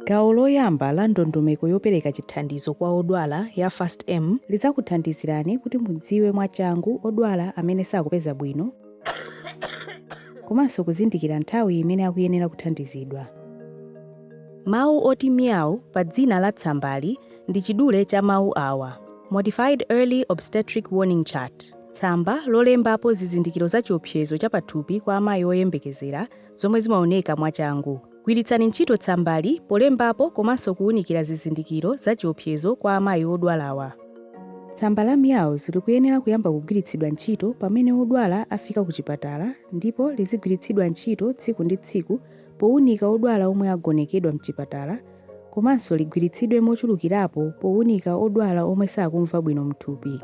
Gawo loyamba la ndondomeko yopereka chithandizo kwa odwala ya FAST-M lidzakuthandizirani kuti mudziwe mwachangu odwala amene sakupeza bwino komanso kuzindikira nthawi imene akuyenera kuthandizidwa. Mawu oti MEOWS pa dzina la tsambali ndi chidule cha mawu awa, Modified Early Obstetric Warning Chart, tsamba lolembapo zizindikiro za chiopsezo cha pathupi kwa amayi oyembekezera zomwe zimaoneka mwachangu. Gwiritsani ntchito tsambali polembapo komanso kuunikira zizindikiro za chiopsezo kwa amayi odwalawa. Tsamba la MEOWS likuyenera kuyamba kugwiritsidwa ntchito pamene wodwala afika kuchipatala ndipo lizigwiritsidwa ntchito tsiku ndi tsiku powunika odwala omwe agonekedwa mchipatala komanso ligwiritsidwe mochulukirapo powunika odwala omwe sakumva bwino mthupi.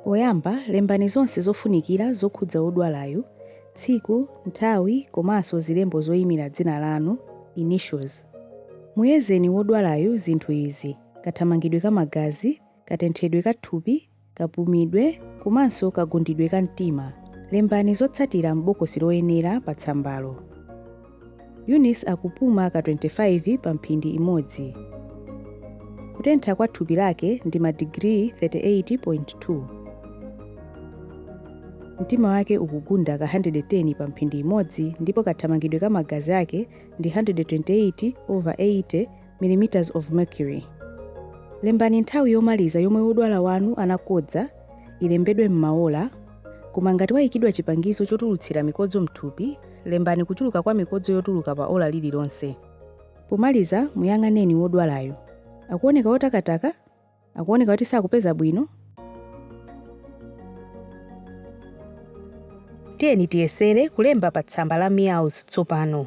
Poyamba lembani zonse zofunikira zokhudza wodwalayu, tsiku, nthawi komanso zilembo zoyimira dzina lanu, initials. Muyezeni wodwalayu zinthu izi, kathamangidwe ka magazi, katenthedwe ka thupi kapumidwe komanso kagundidwe ka mtima. Lembani zotsatira m'bokosi loyenera pa tsambalo. Eunice akupuma ka 25 pa mphindi imodzi. Kutentha kwa thupi lake ndi madigiri 38.2. Mtima wake ukugunda ka 110 pa mphindi imodzi ndipo kathamangidwe ka magazi ake ndi 128/80 mm of mercury. Lembani nthawi yomaliza yomwe wodwala wanu anakodza ilembedwe m'maola, koma ngati waikidwa chipangizo chotulutsira mikodzo m'thupi, lembani kuchuluka kwa mikodzo yotuluka pa ola lililonse. Pomaliza, muyang'aneni wodwalayo. Akuoneka wotakataka? akuoneka kuti sakupeza bwino tiyeni tiyesere kulemba pa tsamba la MEOWS tsopano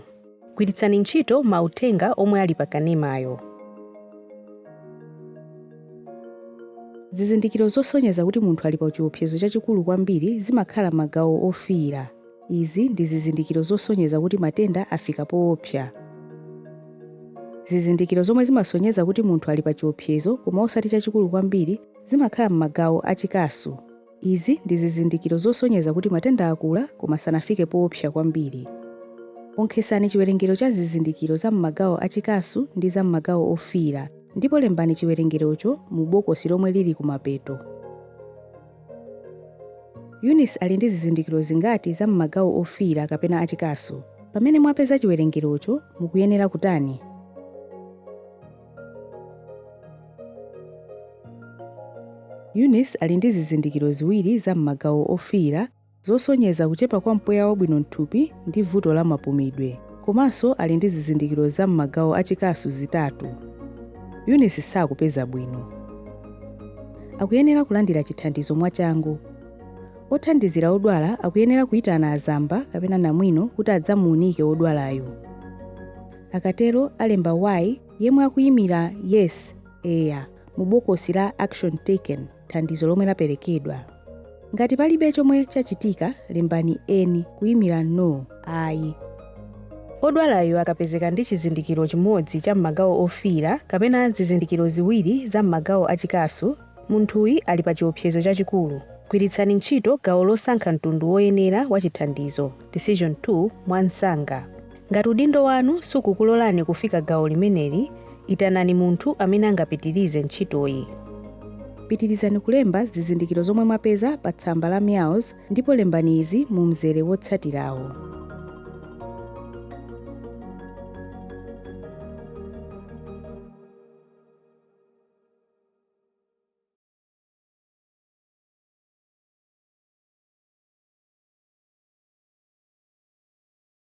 gwiritsani ntchito mauthenga omwe ali pa kanemayo zizindikiro zosonyeza kuti munthu ali pa chiopsezo chachikulu kwambiri zimakhala m'magawo ofiira Izi ndi zizindikiro zosonyeza kuti matenda afika poopsa. Zizindikiro zomwe zimasonyeza kuti munthu ali pa chiopsezo koma osati chachikulu kwambiri zimakhala m'magawo a chikasu. Izi ndi zizindikiro zosonyeza kuti matenda akula koma sanafike poopsa kwambiri. Onkhetsani chiwerengero cha zizindikiro za m'magawo a chikasu ndi za m'magawo ofiira ndipo lembani chiwerengerocho mu bokosi lomwe lili kumapeto. Eunice ali ndi zizindikiro zingati za m'magawo ofiira kapena achikasu? Pamene mwapeza chiwerengerocho, mukuyenera kutani? Eunice ali ndi zizindikiro ziwiri za m'magawo ofiira zosonyeza kuchepa kwa mpweya wabwino m'thupi ndi vuto la mapumidwe, komanso ali ndi zizindikiro za m'magawo a chikasu zitatu. Eunice sakupeza bwino. Akuyenera kulandira chithandizo mwachangu. Othandizira odwala akuyenera kuitana azamba kapena namwino kuti adzamuunike wodwalayo. Akatero alemba Y yemwe akuyimira Yes, Eya, mu bokosi la Action Taken. thandizo lomwe laperekedwa. Ngati palibe chomwe chachitika, lembani N kuimira No, Ayi. Odwalayo akapezeka ndi chizindikiro chimodzi cha m'magawo ofiira kapena zizindikiro ziwiri za m'magawo a chikasu, munthuyi ali pa chiopsezo chachikulu. Gwiritsani ntchito gawo losankha mtundu woyenera wa chithandizo, Decision Tool, mwansanga. Ngati udindo wanu sukukulolani kufika gawo limeneli, itanani munthu amene angapitirize ntchitoyi. Pitirizani kulemba zizindikiro zomwe mwapeza pa tsamba la MEOWS ndipo lembani izi mu mzere wotsatirawu.